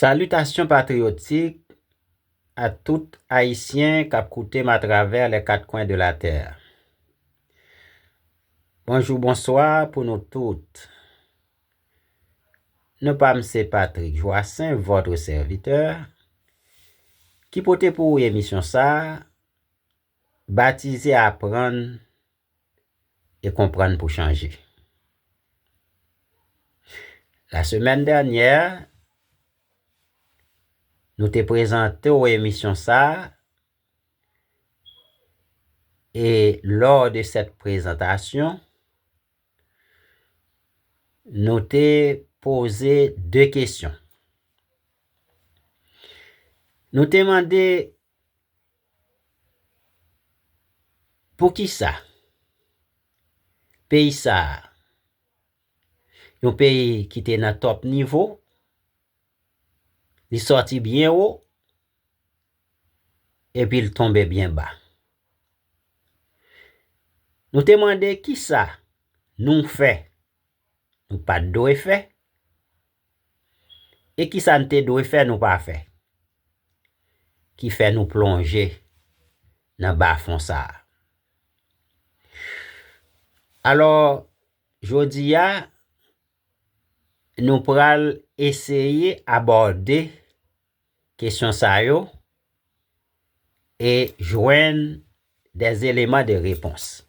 Salitasyon patriyotik a tout Ayisyen k ap koute m atravè lè kat kwen de latè. Bonjou bonswa pou nou tout. Non pa m se Patrick Joassaint, votre serviteur, ki pote pou ou emisyon sa a, batize Aprann e konprann pou chanje. La semèn dènyè, nou te prezante w emisyon sa a, e lò de sèt prezantasyon, nou te poze de kesyon. Nou te mande. Poukisa peyi sa a, yon peyi ki te nan tòp nivo, li sòti byen wo, epi l tonbe byen ba? Nou te mande kisa nou fè nou pa t dwe fè? E ki sa n te dwe fè nou pa fè, ki fè nou plonje nan bafon sa a? Alò, jodi a, nou pral eseye abòde kesyon sa yo e jwenn des eleman de repons.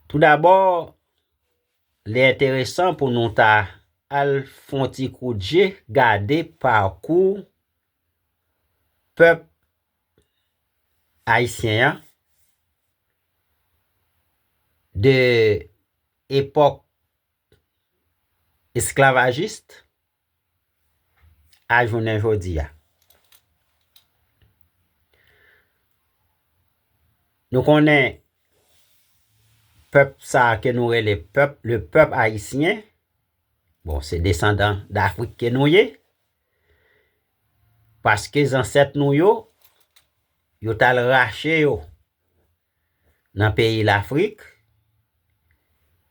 Tou dabò, li enteresan pou nou ta al fon ti kout je gade pakou pèp ayisyen an de epòk esklavajist a jounen jodi a. Nou konnen pèp sa ke nou rele pèp, le pèp ayisyen, bon se desandan dafrik ke nou ye, paske zansèt nou yo, yo tal rache yo. nan peyi Lafrik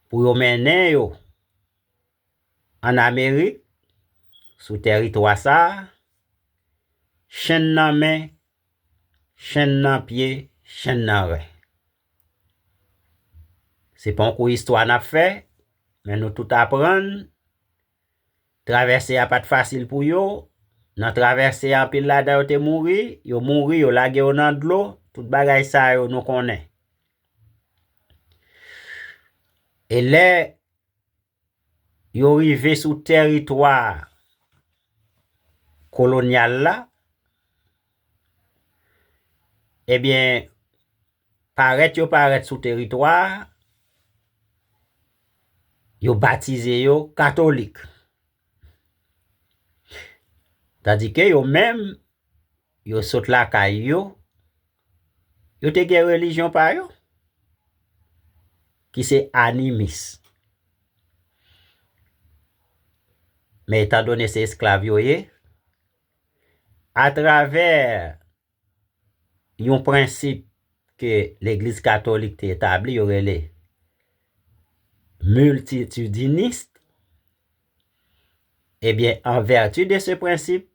pou yo mennen yo an Amerik sou tèritwa sa a, chenn nan men, chenn nan pye, chenn nan ren. Se pa yon kou istwa n ap fè, men nou tout aprann Travèse a pa t fasil pou yo. Nan travèse a, anpil ladan yo te mouri. Yo mouri, yo lage yo nan dlo. Tout bagay sa yo nou konnen. E lè yo rive sou teritwa kolonyal la, ebyen, Parèt yo parèt sou teritwa a, yo batize yo katolik. Tandi ke yo menm, yo sot lakay yo, yo te gen relijyon pa yo, ki se animis. Men etan done se esklav yo ye, atravè, yon prensip ke legliz katolik te etabli yo rele miltitidinist ebyen an vèti de se prensip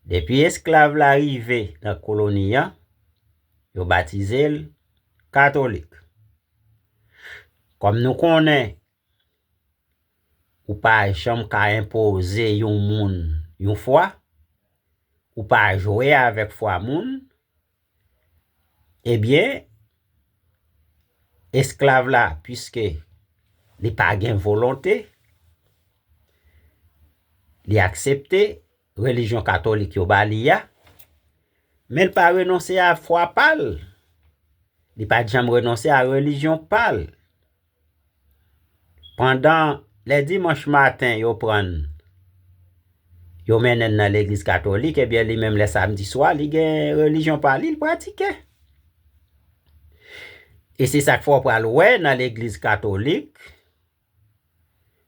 depi esklav la rive nan koloni an yo batize l katolik kòm nou konnen Ou pa janm ka enpoze yon moun yon fwa, ou pa jwe avèk fwa moun, ebyen, esklav la, piske li pa gen volonte, li aksepte relijyon katolik yo ba li a, men l pa renonse a fwa pa l, li pa janm renonse a relijyon pa l, Pandan lè dimanch maten yo pran n, yo mennen n nan legliz katolik, ebyen li menm lè samdi swa li gen relijyon pa li, li pratike. E se sa k fè w pral wè nan legliz katolik,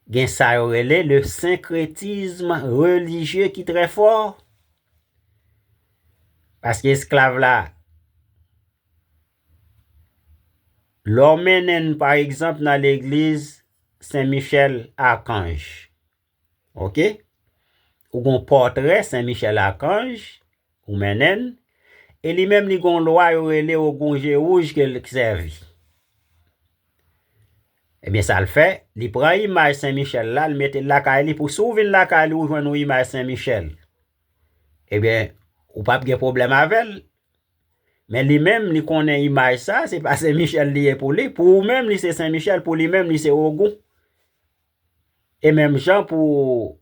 gen sa yo rele le senkretism relijye ki trè fò. Paske esklav la, Lè w mennen n pa egzanp nan legliz Sen Michèl Akanj, ok, ou gon pòtrè Sen Michèl Akanj, ou mennen n, e li menm li gon lwa yo rele Ogun Jewouj ke l sèvi. Ebyen sa l fè, li pran imaj Sen Michèl la, l mete l lakay li pou si w vin lakay li ou jwenn yon imaj Sen Michèl, ebyen ou p ap gen pwoblèm avè l. Men li menm li konnen imaj sa, se pa Sen Michel li ye pou li. Pou ou menm li se Sen Michel, pou li menm li se Ogun. E menm jan pou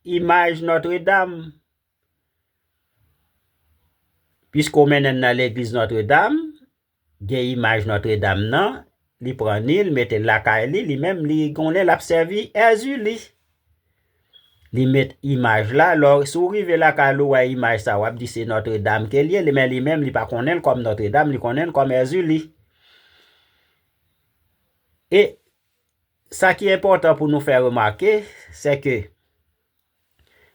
imaj Notre Dame. Piske ou mennen nan legliz Notre Dame, gen imaj Notre Dame nan, Li pran Nil mete l lakay li, li menm li gon lè l ap sèvi Èzili. Li met imaj la, lò si w rive lakay li w wè imaj sa w ap di se Notre Dame ke l ye, men li menm li pa konnen l kòm Notre Dame, li konnen l kòm Èzili. E sa ki enpòtan pou nou fè remake, se ke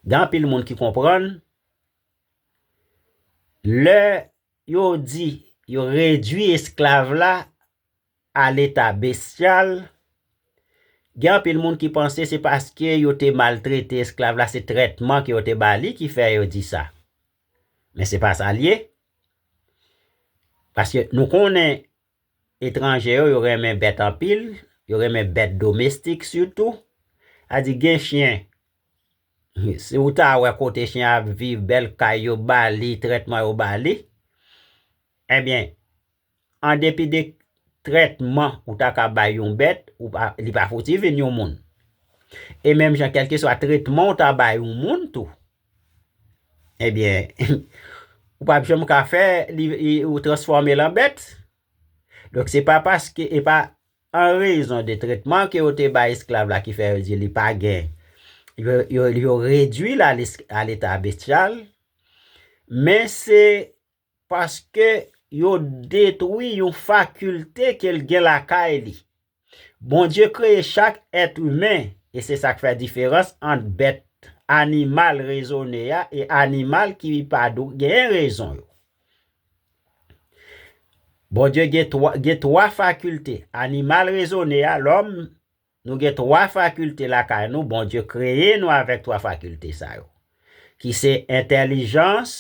gen anpil moun ki konprann, lè Yo di yo redui esklav la a leta bestyal, gen anpil moun ki panse se paske yo te maltrete esklav la, se trètman ke yo te ba li ki fè yo di sa. Men se pa sa l ye. Paske nou konnen Etranje yo, yo renmen bèt anpil, yo renmen bèt domestik sitou. A di gen chyen, si ou ta wè kote chyen an ap viv, bèl kay yo ba li, trètman yo ba li, enben, an depi de trètman ou ta ka bay yon bèt, li pa fouti vin yon moun. E menm jan kèlkeswa trètman ou ta bay yon moun tou, Ebyen, ou pap janm ka fè ou transfòme l an bèt. Donk se pa paske e pa an rezon de tretman ke yo te bay esklav la ki fè yo di li pa gen, yo redui l a leta bestyal, men se Paske yo detwi yon fakilte ke l gen lakay li. Bondye kreye chak èt imen, e se sa k fè diferans ant bèt animal rezone a e animal ki pa gen rezon yo. Bondye gen twa fakilte, animal rezone a, lòm, Nou gen 3 fakilte lakay nou, Bondye kreye nou avèk 3 fakilte sa yo, ki se entèlijans,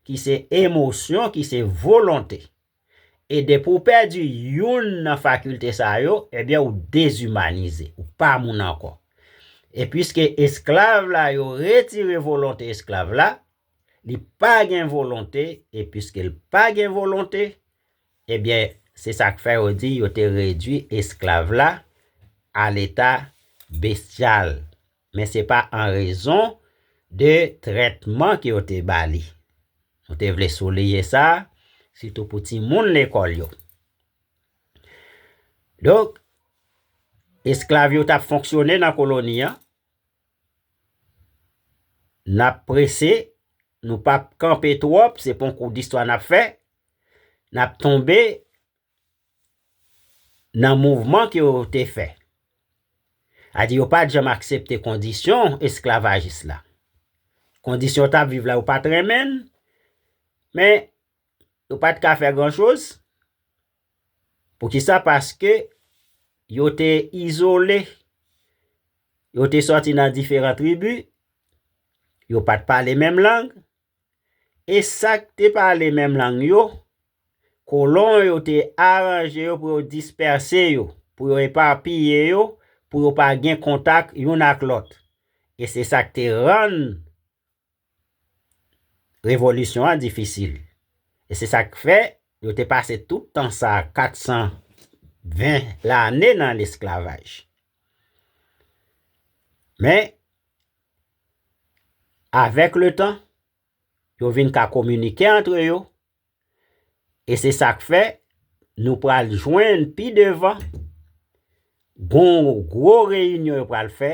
ki se emosyon, ki se volonte. E depi w pèdi youn nan fakilte sa yo, ebyen ou dezimanize, ou pa moun ankò. E piske esklav la yo retire volonte esklav la, li pa gen volonte, e piske l pa gen volonte, Ebyen, se sa k fè yo di yo te redui esklav la a leta bestyal. Men se pa an rezon de trètman ke yo te ba li. Nou te vle souliye sa, sitou pou timoun lekòl yo. Donk, esklav yo t ap fonksyone nan koloni an, n ap prese, nou p ap kanpe twòp, se pa yon kou distwa n ap fè. nap tonbe nan mouvman ke yo te fè. A di yo pat janm aksepte kondisyon esklavajis la. Kondisyon yo tap viv la yo pat renmenn, men yo pat ka fè gran choz. Pou ki sa? Paske yo te izole, yo te soti nan diferan tribi, yo pat pale menm lang, E sa k te pale menm lang yo, kolon yo te aranje yo pou yo dispèse yo, pou yo epapiye yo, pou yo pa gen kontak youn ak lòt. E se sa k te rann Revolisyon an difisil. E se sa k fè yo te pase tout tan sa a, 420 lane nan lesklavaj. Men. Avèk le tan, yo vin ka kominike antre yo, e se sa k fè nou pral jwenn pi devan gon gwo reyinyon yo pral fè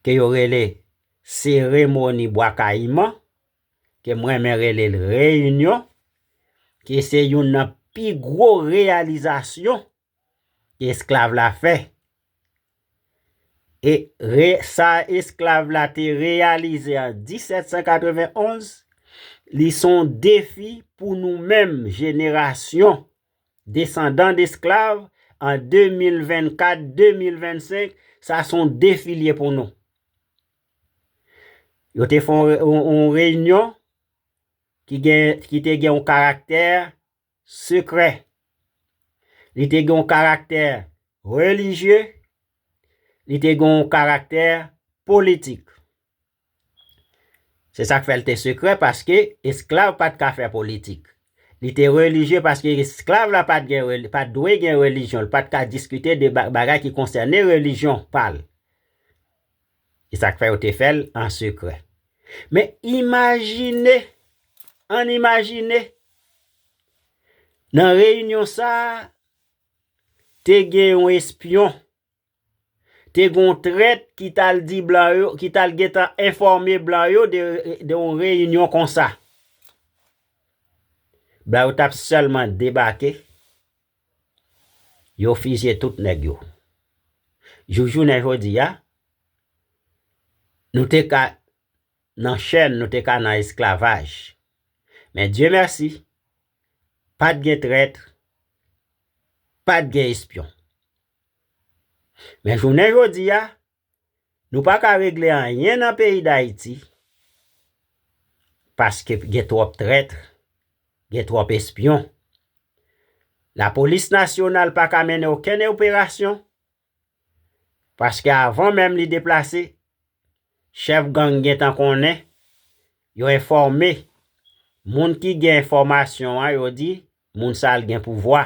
ke yo rele seremoni Bwa Kayiman, ke m renmen rele l reyinyon, ke se youn nan pi gwo reyalizasyon esklav la fè. E re sa esklav la te reyalize an 1791, li son defi pou nou menm jenerasyon desandan desklav an 2024, 2025, sa son defi li ye pou nou. Yo te fon on reyinyon ki te gen on karaktè sekrè. Li te gen yon karaktè relijye, li te gen yon karaktè politik. Se sa k fè l te sekrè paske esklav pa t ka fè politik. Li te relijye paske esklav la pa t dwe gen relijyon, li pa t ka diskite de bagay ki konsène relijyon pa l. Se sa k fè yo te fè l an sekrè. Men, imajine, ann imajine, nan reyinyon sa a, te gen yon espyon, te gen yon trèt ki t al di blan yo, ki t al gen tan enfòme blan yo de yon reyinyon konsa. Blan yo t ap sèlman debake, Yo fizye tout nèg yo. Jouk jounen jodi a, nou te ka nan chèn, nou te ka nan esklavaj. Men Dye mèsi, pa t gen trèt, pa t gen espyon. Men jounen jodi a, Nou pa ka regle anyen nan peyi Dayiti paske gen twòp trètr, gen twòp espyon. Lapolis nasyonal pa ka mennen okenn operasyon paske avan menm li deplase, chèf gang gen tan konnen, yo enfòme, moun ki gen enfòmasyon an yo di Moun sal gen pouvwa.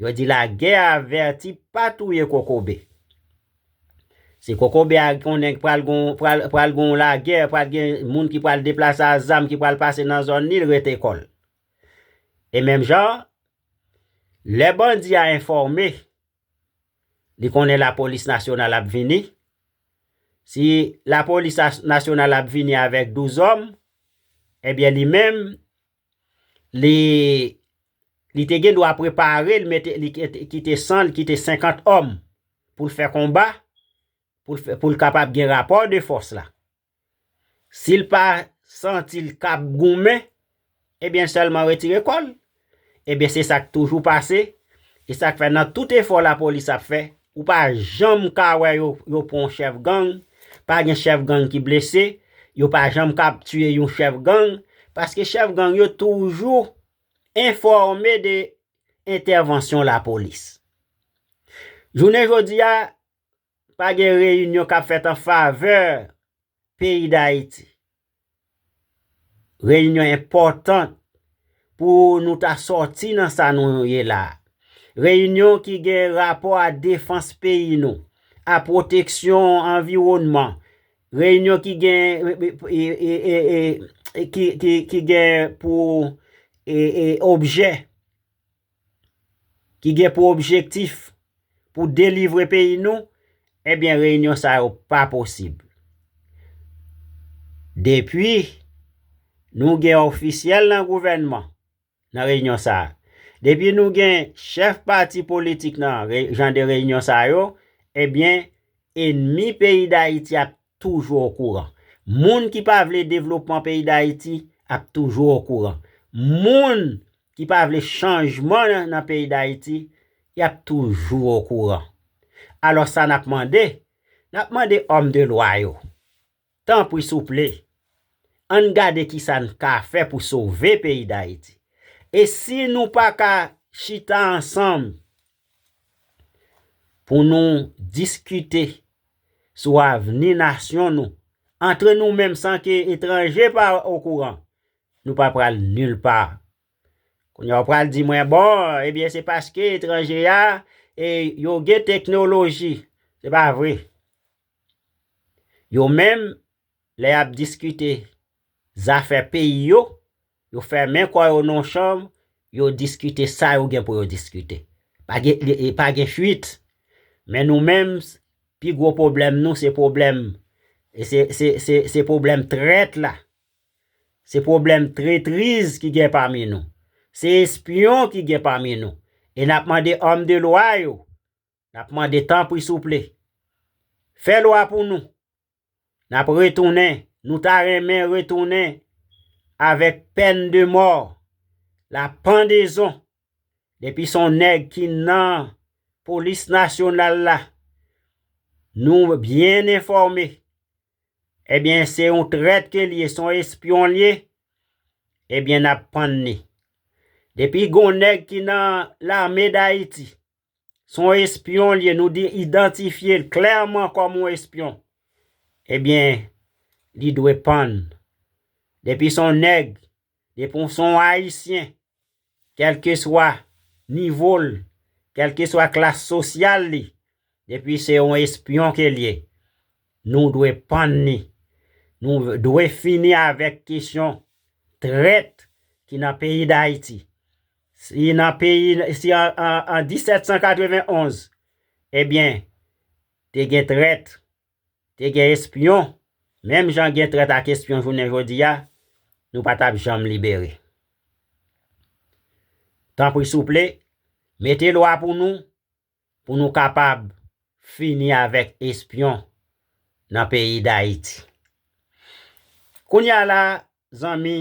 Yo di la gè a avèti pa touye kokobe. Si kokobe a konnen pral gon pral gon la gè pral gen moun ki pral deplase a zam ki pral pase nan zòn li l rete kòl. E menm jan lè bandi a enfòme li konnen la polis nasyonal ap vini si la polis nasyonal ap vini avèk 12 òm ebyen li menm Li te gen dwa prepare l, mete li kite 100, li kite 50 òm pou l fè konba, pou l kapab gen rapò de fòs la. Si l pa santi l kab goumen, ebyen l sèlman retire kò l. Ebyen se sa k toujou pase, e sa k fè nan tout efò lapolis ap fè, Ou pa janm ka wè yo yo pran yon chèf gang, pa gen chèf gang ki blese, yo pa janm ka ap tiye yon chèf gang, paske chèf gang yo toujou enfòme de entèvansyon lapolis. Jounen jodi a, pa gen reyinyon k ap fèt an favè peyi Dayiti. Reyinyon enpòtan pou nou ta sòti nan sa nou ye la. Reyinyon ki gen rapò a defans peyi nou, a pwoteksyon anviwònman, reyinyon ki gen ki gen pou objè. ki gen pou objektif pou delivre peyi nou, ebyen reyinyon sa yo pa posib. Depi nou gen ofisyèl nan gouvènman nan reyinyon sa, depi nou gen chèf pati politik nan jan de reyinyon sa yo, ebyen enmi peyi Dayiti ap toujou okouran. Moun ki pa vle devlopman peyi Dayiti ap toujou okouran. Moun ki pa vle chanjman nan peyi Dayiti, y ap toujou okouran. Alò sa n ap mande? N ap mande òm de lwa yo, tanpri souple, an n gade ki sa n ka fè pou sove peyi Dayiti. E si nou pa ka chita ansanm pou nou diskite sou avni nasyon nou, antre nou menm san ke etranje pa okouran, nou pa pral nil pa. Kounye a ou pral di mwen, bon, ebyen se paske etranje a, e yo gen teknoloji. Se pa vre. Yo menm, lè y ap diskite zafè peyi yo, Yo fèmen kò yo nan yon chanm, yo diskite sa yo gen pou yo diskite. Pa gen, pa gen fuit. Men nou menm, pi gwo pwoblèm nou se pwoblèm, se, se, se, se pwoblèm trèt la. Se pwoblèm tretriz ki gen pami nou. Se espyon ki gen pami nou. E n ap mande òm de lwa yo Nap mande tanpri souple fè lwa pou nou nap retounen nou ta renmen retounen avèk pèn de mò la pandezon depi son nèg ki nan polis nasyonal la nou byen enfòme ebyen se yon trèt ke liye son espyon liye ebyen nap pann ni depi gon nèg ki nan lame dayiti. Se yon espyon li ye, nou idantifye l klèman kòm yon espyon. Ebyen, li dwe pann. Depi se yon nèg, depi se yon Ayisyen, kèlkeswa nivo l, kèlkeswa klas sosyal li, depi se yon espyon ke li ye, nou dwe pann li. Nou dwe fini avèk kesyon trèt ki nan peyi Dayiti. Si nan peyi, si an 1791, ebyen, te gen trèt, te gen espyon, menm jan gen trèt ak espyon jounen jodi a, nou pa t ap janm libere. Tanpri souple, mete lwa pou nou, pou nou kapab fini avèk espyon nan peyi Dayiti. Kounye a la, zanmi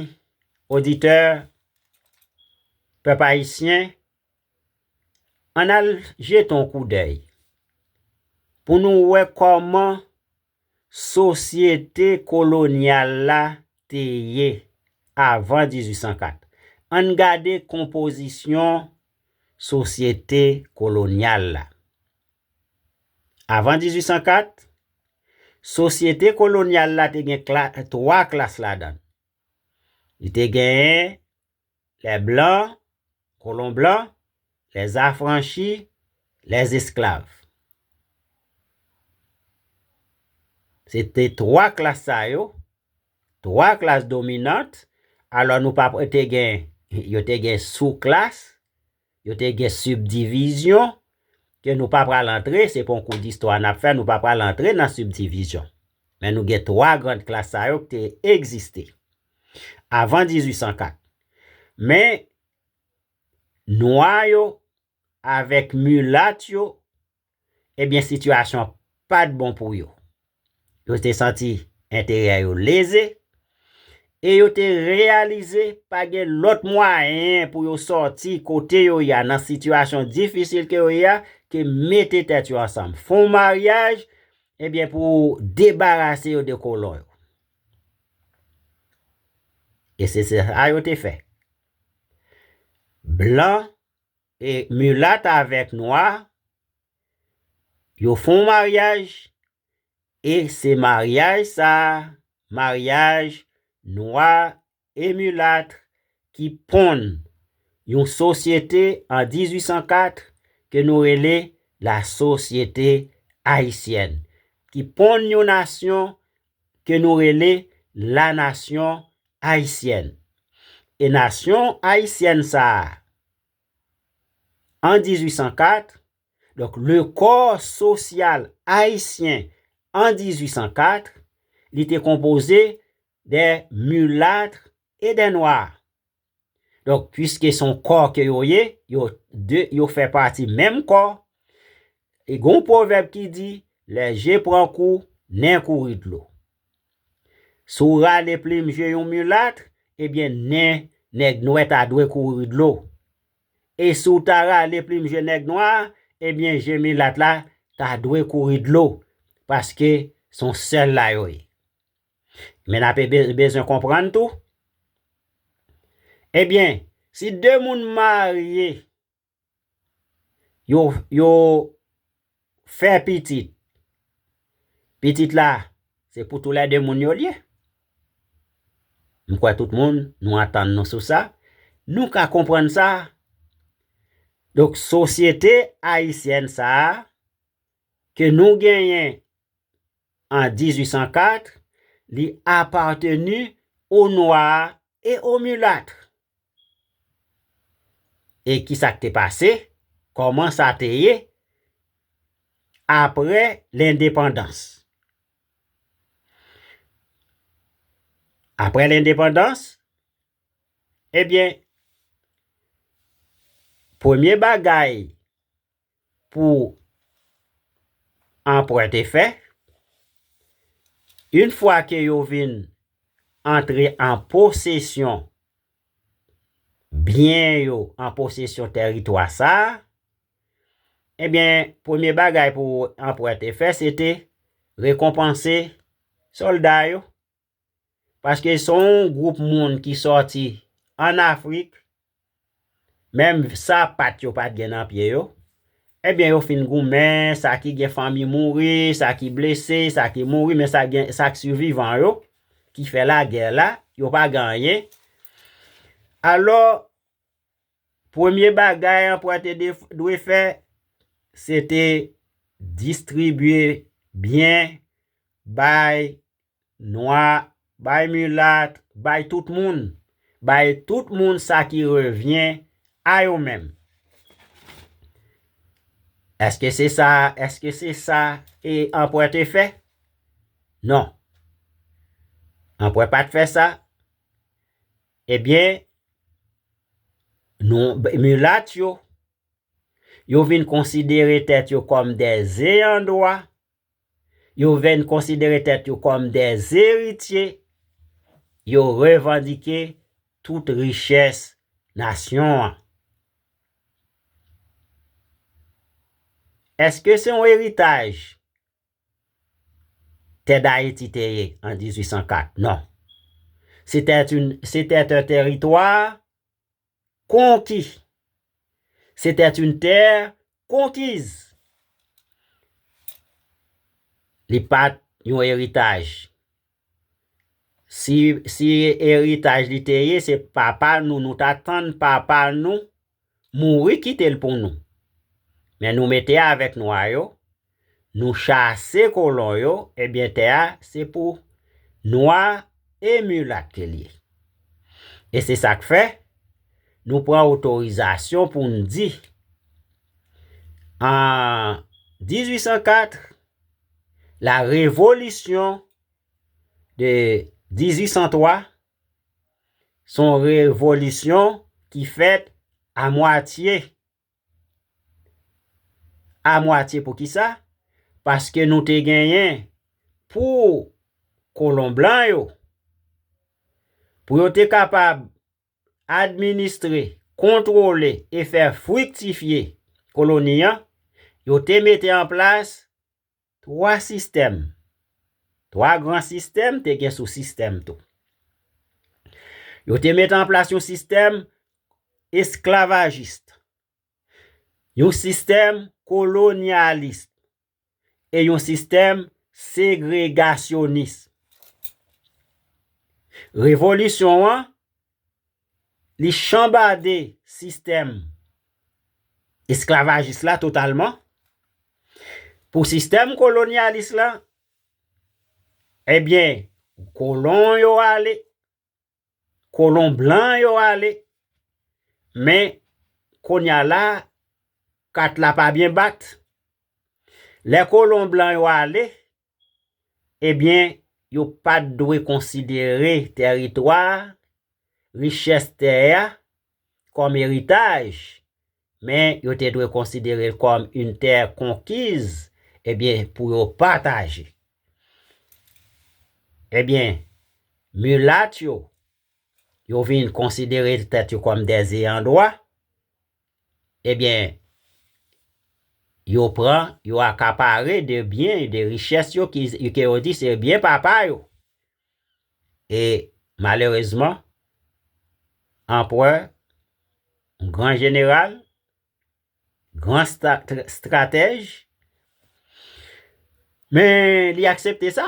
oditè, pèp ayisyen, ann al jete yon koudèy pou nou wè kòman Sosyete kolonyal la te ye avan 1804. An n gade konpozisyon sosyete kolonyal la. Avan 1804, sosyete kolonyal la te gen twa klas ladan l. Li te gen Les blancs, colons blancs, les affranchis, les esclaves. Se te 3 klas sa yo, 3 klas dominant, alò nou pa te gen, yo te gen sou klas, Yo te gen sibdivizyon ke nou pa pral antre, se pa yon kou distwa n ap fè, nou pa pral antre nan sibdivizyon. Men nou gen twa grand klas sa yo ki te egziste avan 1804. Men nwa yo avèk milat yo ebyen sitiyasyon pa t bon pou yo. Yo te santi enterè yo leze e yo te reyalize pa gen lòt mwayen pou yo sòti kote yo ye a nan sitiyasyon difisil ke yo ye a ke mete tèt yo ansanm, fon maryaj ebyen pou debarase yo de kolon yo. E se sa yo te fè. Blan E mulat avek nwa yo fon maryaj e se maryaj sa maryaj nwa e mulat ki ponn yon sosyete an 1804 ke nou rele la sosyete ayisyèn ki ponn yon nasyon ke nou rele la nasyon ayisyèn e nasyon ayisyèn sa an 1804, donk le kò sosyal ayisyen an 1804, li te konpoze de mulatre e de noir. Donk, pwiske se yon kò ke yo ye, yo de, yo fè pati menm kò, e gen yon pwovèb ki di, lè je pran kou, nen kouri dlo. Si w rale plim je yon mulatre, ebyen nen nèg nwè ta dwe kouri dlo. E si w ta rale plim je nèg nwa, ebyen je milat la ta dwe kouri dlo, paske s on sèl la yo ye. Men n ape bezwen konprann tou, ebyen si de moun marye yo yo fè pitit pitit la se pou tou lè 2 moun yo li ye m kwè tout moun nou antann nou sou sa nou ka konprann sa donk sosyete ayisyèn sa ke nou genyen an 1804 li apateni o nwa e o milat E ki sa k te pase? Kòman sa te ye apre lendepandans? Apre lendepandans, ebyen, premye bagay pou anprè te fè, yn fwa ke yo vin antre an posesyon byen yo, an posesyon tèritwa sa a, ebyen premye bagay pou anprè te fè se te rekonpanse sòlda yo, Paske se yon gwoup moun ki sòti an Afrik, menm sapat yo pat gen nan pye yo, ebyen yo fin goumen, sa ki gen fanmi mouri, sa ki blese, sa ki mouri, men sa gen, sa k sivivan yo, ki fè lagè la, yo pa gen anyen. Alò, premye bagay anperè te dwe fè, se te distribye byen bay Nwa, bay mulat, bay tout moun, bay tout moun sa ki revyen a yo menm. Eske se sa, eske se sa e anpwè te fè? Non. Anpwè pat fè sa. Ebyen, nou, mulat yo, yo vin konsidere tèt yo kòm de ze an dwa, Yo vin konsidere tèt yo kòm de eritye, yo revandike tout richès nasyon an. Eske se yon eritaj tè d'Ayiti te ye an 1804? Non. Sete un territoire Konki. C'était une terre conquise. Li pat yon eritaj. Si si eritaj li te ye se papa nou nou ta tann papa nou mouri kite l pou nou. Men nou mete avèk nwa yo Nou chase kolon yo, ebyen tè a se pou nwa e milat ke l ye. E se sa k fè, nou pran otorizasyon pou n di, an 1804, la revolisyon de 1803, s on revolisyon ki fèt a mwatye. A mwatye pou kisa? Paske nou te genyen pou kolon blan yo, pou yo te kapab administre, kontwole e fè friktifye koloni an, yo te mete an plas Twa sistèm, twa gran sistèm te gen sou-sistèm tou. Yo te mete an plas yon sistèm esklavajist, yon sistèm kolonyalis e yon sistèm segregasyonis. Revolisyon an. Li chanbade sistèm esklavajis la totalman pou sistèm kolonyalis la, ebyen kolon yo ale, kolon blan yo ale, men kounya la kat la pa byen bat, lè kolon blan yo ale, Ebyen, yo pa t dwe konsidere tèritwa a, richès tè a, kòm eritaj, men yo te dwe konsidere l kòm yn tè konkiz, ebyen, pou yo pataje. Ebyen, milat yo, yo vin konsidere tèt yo kòm dè zeyandwa, Ebyen, yo pran, yo akapare de byen, de richès yo ki ke yo di se byen papa yo. E malerezman, anprè, gran jeneral, gran stratèj, men li aksepte sa.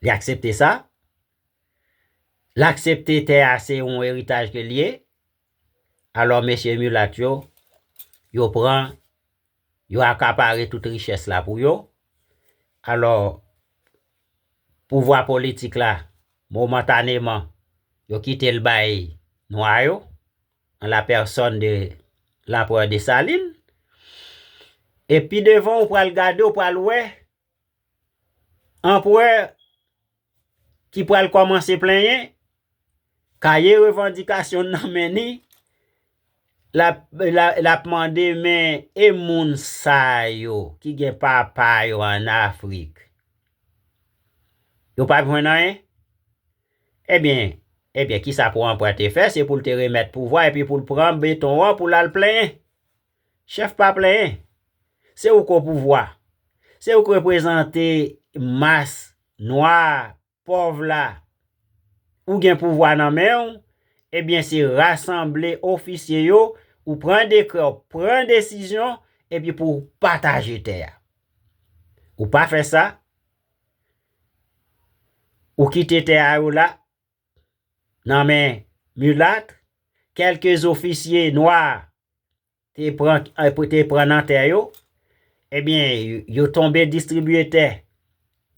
Li aksepte sa. L aksepte tè a se yon eritaj ke l ye, alò mesye milat yo, yo pran, yo akapare tout richès la pou yo, alò pouvwa politik la momantaneman yo kite l bay nwa yo, an la pèsòn de Lanprè Desalin, e pi devan ou pral gade ou pral wè Anprè ki pral kòmanse plenyen, kaye revandikasyon nan men ni, l ap mande men e moun sa yo ki gen papa yo an Afrik, yo pa p jwenn anyen? Ebyen, ebyen kisa pou anprè te fè, se pou l te remèt pouvwa epi pou l pran beton an pou l al plenyen. Chèf pa plenyen. Se ou k o pouvwa. Se ou k reprezante mas nwa a, pòv la. Ou gen pouvwa nan men ou, ebyen se rasanble ofisye yo, ou pran dekrè, ou pran desizyon, epi pou ou pataje tè a. Ou pa fè sa, ou kite tè a yo la, nan men milat, kèlke zofisye nwa a. te pran nan tè yo, ebyen yo tonbe distribiye tè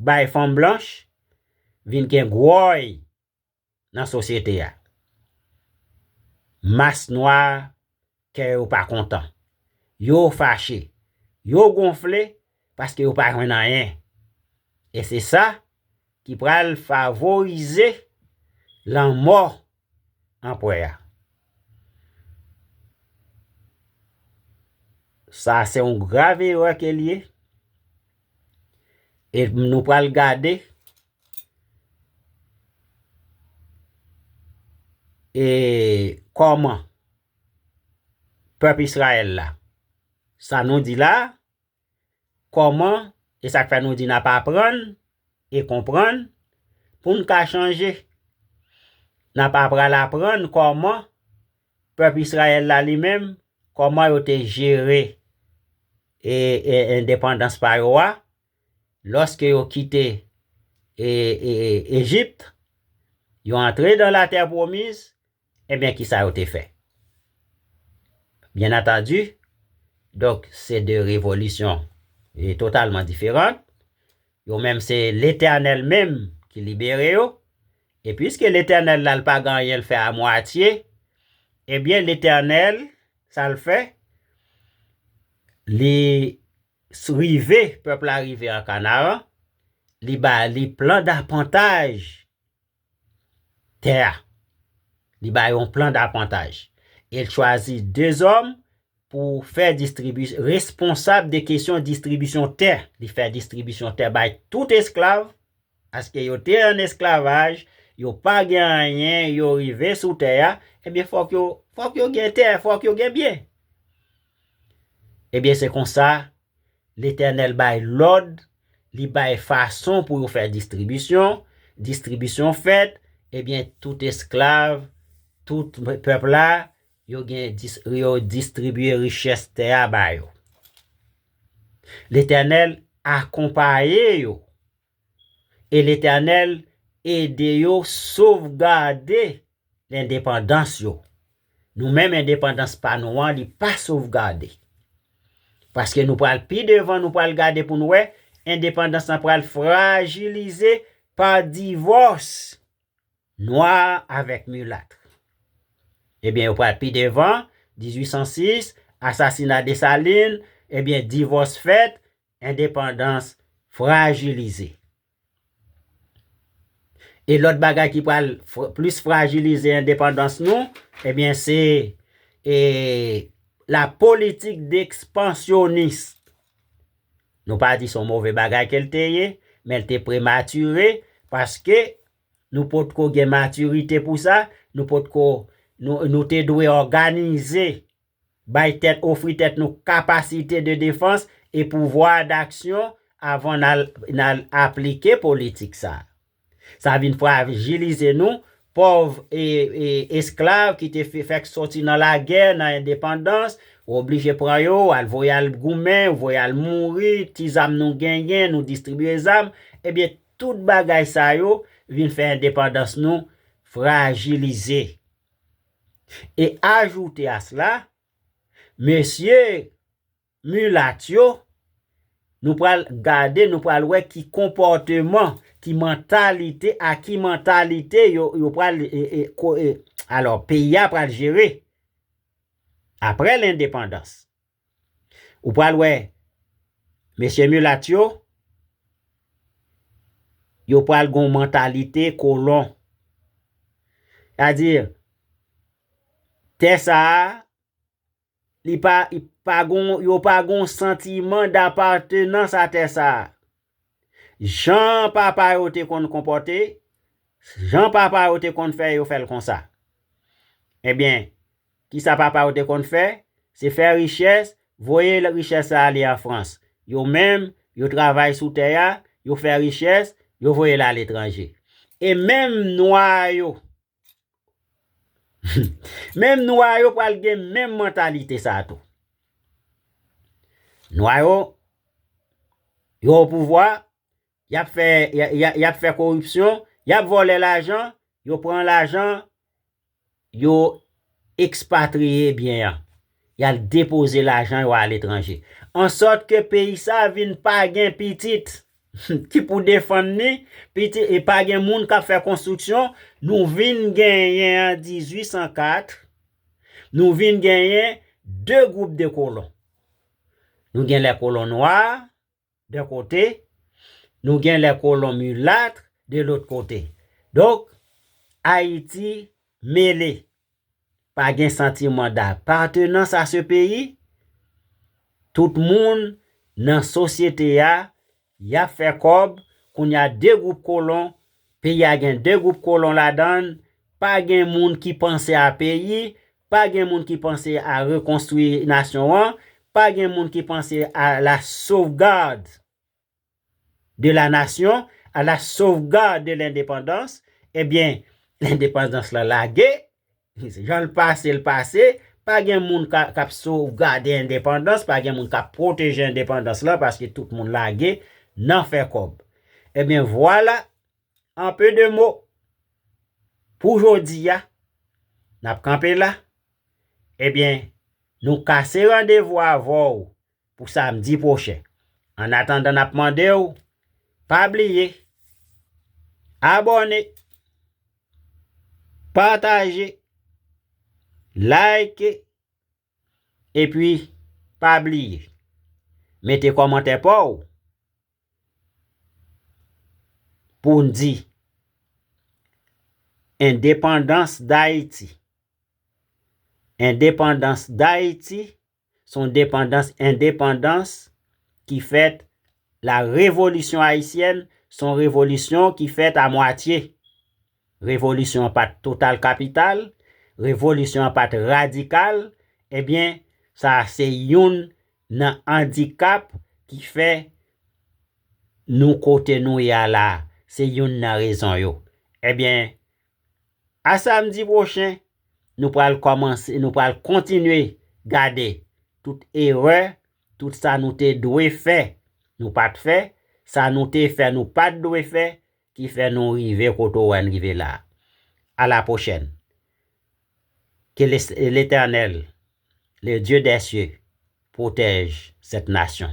bay fanm blanch, vin gen gwòy nan sosyete a. Mas nwa kè yo pa kontan, yo fache, yo gonfle paske yo pa jwenn anyen. E se sa ki pral favorize lanmò anpwè a. Sa se yon grav erè ke li ye. E nou pral gade e kòman pèp Israel la sa nou di la Kòman, e sa k fè nou di n ap aprann e konprann pou n ka chanje. N ap apral aprann kòman pèp Israël la li menm, kòman yo te jere endepandans pa yo a lòske yo kite Egypt, yo antre dan la terre promise, Ebyen ki sa yo te fè? Byennantandi, donk se de revolisyon totalman diferant, yo menm se Letènèl menm ki libere yo, e piske Letènèl la l pa gen anyen l fè a mwatye, ebyen Letènèl sa l fè? Li rive, pèp la rive an Kanaran, li ba li plan dapantaj tè a. Li bay yon plan dapantaj. E l chwazi 2 zòm pou fè distribi, responsab de kesyon distribisyon tè. Li fè distribisyon tè bay tout esklav, paske yo te an esklavaj, yo pa gen anyen, yo rive sou tè a, ebyen fòk yo, fòk yo gen tè, fòk yo gen byen. Ebyen se konsa, Letènèl bay lòd Li bay fason pou yo fè distribisyon, distribisyon fèt, ebyen tout esklav, tout pèp la, yo gen yo distribiye richès tè a ba yo. Letènèl akonpaye yo, e Letènèl ede yo sovgade Lendepandans yo. Nou menm endepandans pa nou an li pa sovgade. Paske nou pral pi devan nou pral gade pou nou wè endepandans lan pral frajilize pa divòs nwa avèk milatre. Ebyen yo pral pi devan 1806 asasina Desalin ebyen divòs fèt endepandans frajilize. E lòt bagay ki pral plis frajilize endepandans nou, ebyen se la politik dekspansyonis. Nou pa di son move bagay ke l te ye, men l te prematire, paske nou potko gen matirite pou sa, nou potko, nou te dwe òganize Bay tèt, ofri tèt nou kapasite de defans e pouvwa daksyon avan n al aplike politik sa a. Sa vin frajilize nou, pòv e esklav ki te fèk soti nan lagè, nan endepandans, ou oblije pran yo, ou al voye al goumen, ou voye al mouri, ti zam nou genyen, nou distribiye zam, ebyen tout bagay sa yo vin fè endepandans nou frajilize. E ajoute a sla, mesye mulat yo, nou pral gade, nou pral wè ki konpòteman, ki mantalite, a ki mantalite yo pral, alò, peyi a pral jere, apre lendepandans. Ou pral wè mesye mulat yo, yo pral gon mantalite kolon. Sa di, tè sa a, li pa, yo pa gon santiman dapatenans a tè sa a. Jan papa yo te konn konpòte, jan papa yo te konn fè yo fè l konsa. Ebyen, kisa papa yo te konn fè? Se fè richès, voye richès sa ale an Frans. Yo menm, yo travay sou tè a, yo fè richès, yo voye l aletranje. E menm nwa yo, Menm nwa yo pral gen menm mantalite sa tou. Nwa yo, yo o pouvwa, yap fè, yap fè koripsyon, yap vòlè lajan, yo pran lajan, yo ekspatriye byen an. Y al depoze lajan yo aletranje. Ansòt ke peyi sa vin pa gen pitit ki pou defann li, pitit e pa gen moun k ap fè konstriksyon. Nou vin genyen an 1804, nou vin genyen 2 gwoup de kolon. Nou gen lè kolon nwa, D'un kote, nou gen les colons mulâtres de l'autre côté. Donk, Ayiti mele. Pa gen santiman d'appartenance à ce pays. Tout moun nan sosyete a, y ap fè kòb, kounye a 2 gwoup kolon, peyi a gen 2 gwoup kolon ladan l, pa gen moun ki panse a peyi, Pa gen moun ki panse a rekonstwi nasyon an, pa gen moun ki panse a la sauvegarde de la nation, a la sauvegarde de l'indépendance, ebyen lendepandans lan lage, jan l pase l pase, pa gen moun k ap sovgade endepandans, pa gen moun k ap pwoteje endepandans lan paske tout moun lage nan fè kòb. Ebyen vwala! En peu de mots, pou jodi a, n ap kanpe la, ebyen, nou kase randevou avè w pou samdi pwochen. An atandan n ap mande w, pa bliye, abòne, pataje, like, Epi pa bliye mete kòmantè paw poun di Indépendance d'Haïti Indépendance d'Haïti son depandans endepandans ki fèt la revolisyon ayisyèn son revolisyon ki fèt a mwatye. Revolisyon an pa t total kapital, revolisyon an pa t radikal, ebyen sa a se youn nan andikap ki fè nou kote nou ye a la a, se youn nan rezon yo. Ebyen, a samdi pwochen, nou pral kòmanse, nou pral kontinye gade tout erè, tout sa nou te dwe fè nou pa t fè, sa nou te fè nou pa t dwe fè, Ki fè nou rive kote ou wè n rive la. A la pwochèn. Ke Letènèl, le Dye dè sye, pwotèj sèt nasyon.